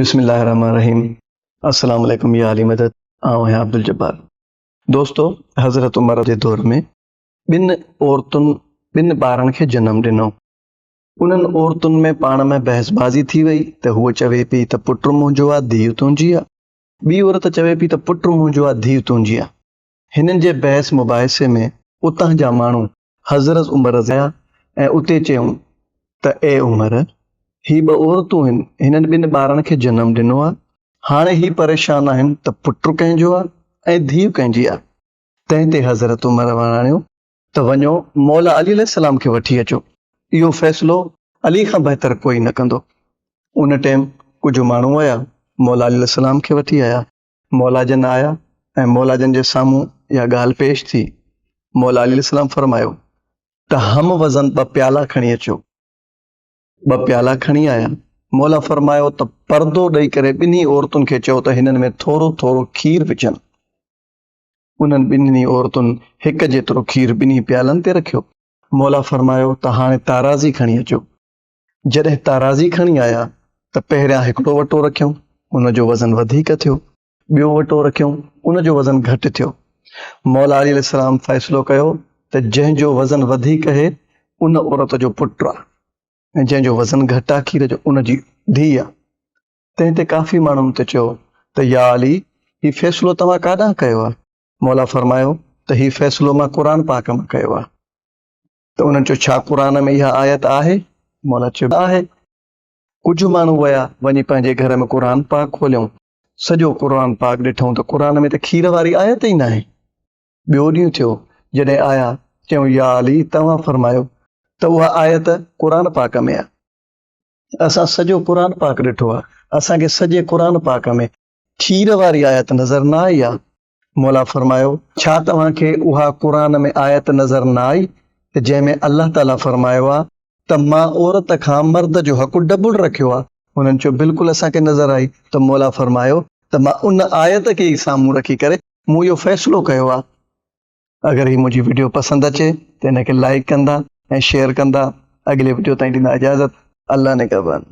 بسم الله الرحمن الرحيم السلام عليڪم يا علي مدد آئون آهيان عبدالجبار دوستو حضرت عمر جي دور ۾ ٻن عورتن ٻن ٻارن کي جنم ڏنو انهن عورتن ۾ پاڻ ۾ بحث بازي ٿي وئي ته هوء چوي پي ته پٽ منهنجو آ ڌيء تنهنجي آ ٻي عورت چوي پي ته پٽ منهنجو آ ڌيء تنهنجي آ هنن جي بحث مباحثي ۾ اتان جا ماڻهو حضرت عمر رضه آيا ۽ اتي چيون ته اي عمر! هي ٻه عورتون هن، هنن ٻن ٻارڙن کي جنم ڏنو آهي، هاڻي هي پريشان آهن ته پٽ ڪنهن جو آهي ۽ ڌيء ڪنهن جي آهي؟ تنهن تي حضرت عمر وراڻيو ته وڃو مولا علي عليه السلام کي وٺي اچو، اهو فيصلو علي کان بهتر ڪوئي نه ڪندو. ان ٽيم ڪجهه ماڻهو آيا، مولا علي عليه السلام کي وٺي آيا مولا جن آيا ۽ مولا جن جي سامهون اها ڳالهه پيش ٿي. مولا عليه السلام فرمايو ته هم وزن ٻه پيالا کڻي اچو. ٻه پيالا کڻي آيا. مولا فرمايو ته پردو ڏئي ڪري ٻنهي عورتن کي چئو ته هنن ۾ ٿورو ٿورو کير وجهن. انهن ٻنهي عورتن هڪ جيترو کير ٻنهي پيالن تي رکيو. مولا فرمايو ته هاڻي تارازي کڻي اچو. جڏهن تارازي کڻي آيا ته پهريان هڪڙو وٽو رکيم ان جو وزن وڌيڪ ٿيو ٻيو وٽو رکيم ان جو وزن گهٽ ٿيو مولا علي السلام فيصلو ڪيو ته جنهن جو وزن وڌيڪ اهي ان عورت جو پٽ آ ۽ جنهن جو وزن گهٽ آ کير جو ان جي ڌي آ تنهن تي ڪافي ماڻهن ته چيو ته يا علي هي فيصلو توهان ڪاڏانهن ڪيو آ مولا فرمايو ته هي فيصلو مان قرآن پاڪ مان ڪيو آ ته انهن چيو ڇا قرآن ۾ اها آيت آهي؟ مولا چيو آهي. ڪجهه ماڻهو ويا وڃي پنهنجي گهر ۾ قرآن پاڪ کوليائون سڄو قرآن پاڪ ڏٺائون ته قرآن ۾ ته کير واري آيت ئي ناهي. ٻيو ڏينهن ٿيو جڏهن آيا چيائون يا علي توهان فرمايو ته اها آيت قرآن پاڪ ۾ آهي اسان سڄو قرآن پاڪ ڏٺو آهي اسان کي سڄي قرآن پاڪ ۾ کير واري آيت نظر نه آئي آهي. مولا فرمايو، ڇا توهان کي اها قرآن ۾ آيت نظر نه آئي ته جنهن ۾ الله تعاليٰ فرمايو آهي ته مان عورت کان مرد جو حق ڊبل رکيو آهي؟ هنن چيو، بلڪل اسان کي نظر آئي ته مولا فرمايو ته مان ان آيت کي ئي سامهون رکي ڪري مون اهو فيصلو ڪيو آهي. اگر هي منهنجي وڊيو پسند اچي ته ان کي لائيڪ ڪندا ۽ شيئر ڪندا. اڳلي وڊيو تائين ڏيندا اجازت. الله نگهبان.